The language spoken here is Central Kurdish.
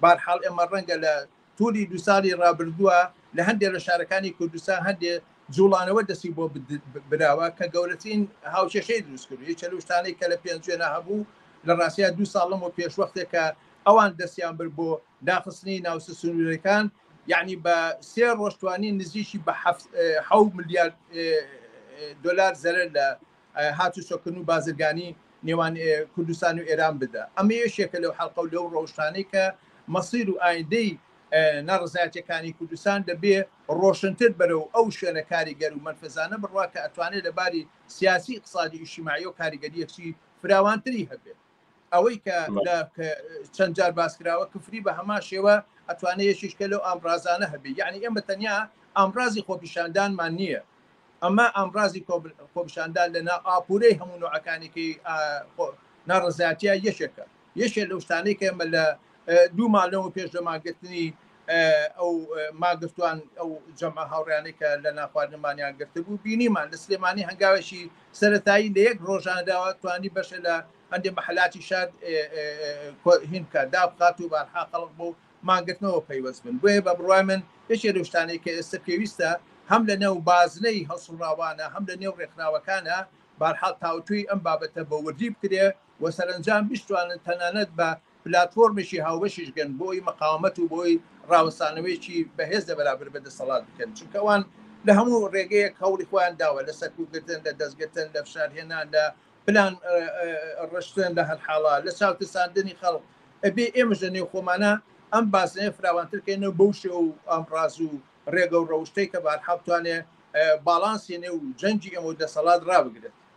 بەهەرحاڵ ئێمە ڕەنگە لە توولی دوو ساڵی ڕابردووە لە هەندێ لە شارەکانی کوردستان هەندێ جووڵانەوە دەستی بۆ براوە کە گەورەترین هاوکێشەی دروست کردو یەکێ لەو شتانەی کە لە پێنجوێنە هەبوو لە ڕاستیا دوو ساڵ لەمەو پێشوەختێک کە ئەوان دەستیان برد بۆ داخستنی ناوچە سنوورەکان یعنی بە سێ ڕۆژ توانین نزیکی بە حەفت حەو ملیار دۆلار زەرەر لە هاتوچۆکردن و بازرگانی نێوان کوردستان و ئێران بدا. ئەمە یەکێکە لەو حەلقە و لەو ڕەوشتانەی کە مەسیر و ئایندەی ناڕەزایەتییەکانی کوردستان دەبێ ڕۆشنتر بەرەو ئەو شوێنە کاریگەر و مەنفەزانە بڕوا کە ئەتوانێ لە باری سیاسی، ئیقتسادی و ئیجتیماعییەوە کاریگەرییەکی فراوانتری هەبێت. ئەوەی کە لە چەند جار باسکراوە کفری بە هەما شێوە ئەتوانێت یەشیشکە لەو ئامرازانە هەبێ یعنی ئێمە تەنیا ئامرازی خۆپیشاندانمان نییە ئەمە ئامرازی خۆپیشاندان لە نا ئاپورەی هەموو نوعەکانێکی ناڕزایەتە یەکێکە یەکێ لەو شتانەی کە ئێمە لە دوو مانگ لەمەو پێش لە مانگرتنی ئەو ماگرتوان ئەو جەمە هاوڕیانەی کە لە ناخواردنمانیان گرتبوو بینیمان لە سلێمانی هەنگاوێکی سەتایی لە یەک ڕۆژانەداوە توانی بەشێ لە هەندێ مەحلاتی شار هین بکات دا بکات و بارحا خەڵق بۆ مانگرتنەوە پەیوەست بن بۆیە بە بڕای من یەکێ لە شتانەی کە ئێستا پێویستە هەم لە نێو بازنەی هەڵسوڕاوانە هەم لە نێو ڕێکخراوەکانە بارحاڵ تاوتوی ئەم بابەتە بە وردی بکرێ و سەرنجام بشتوانن تەنانەت بە پلاتفۆرمێکی هاوبەشیش گەن بۆی مقاومەت و بۆی ڕاوەستانەوەیەکی بەهێز لە بەرابەر بە دەسەڵات بکەن چونکە ئەوان لە هەموو ڕێگەیەک هەوڵی خۆیان داوە لە سەرکوتگرتن لە دەستگرتن لە فشارهێنان لە پلان ڕشتن لە هەر حاڵا لە چاوترساندنی خەڵک ئەبێ ئێمەش لە نێو خۆمانە ئەم بازنەیە فراوانترکەینەوە بەو شێ و ئەم ڕاز و ڕێگە و ڕەوشتەی کە بارحاڵ توانێ باڵانسی نێو جەنگی ئێمە و دەسەڵات ڕابگرێت